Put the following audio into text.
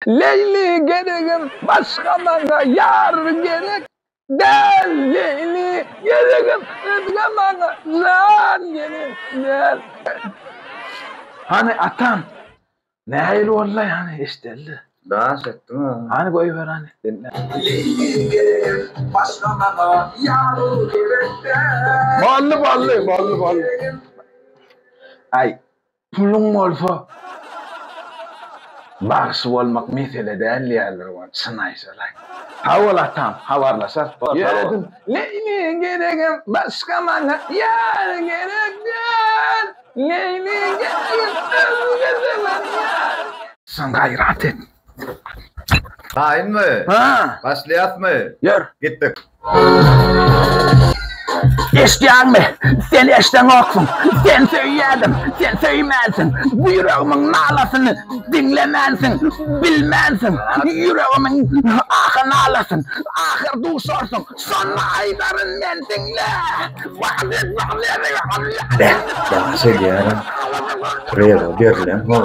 Leýli geregem başga maňa ýar gerek däl Leýli geregem özge maňa jan gerek däl Hany atam nähili bollaý hany eşdeli. Daş etdiň a. Hany goýber hany diňläýin. Leýli geregem başga maňa ýar gerek däl. Boldy boldy boldy boldy. Aý. Puluň bolsa bagşy bolmak mesele däl diýýärler oňa çyn aýtsalaý. Sag bol atam habarlaşarys dost. Ýöredim Leýliň geregem başga maňa ýar gerek däl Leýliň geregem özge zaman ýar gerek. Sen gaýrat et. Taýynmy? Ha. Başlaýasmy? Ýör. Gitdik. Eşdýäňmi? Sen eşdeňoksuň. Sen söýýädiň. Sen söýmänsiň. Bu ýüregimiň nalasyny diňlemänsiň. Bilmänsiň. Ýüregimiň ahy-nalasyn. Ahyr duşarsyň. Şonda aýdaryn men diňle. Ýagşy diýýärin. Reza berlen hol.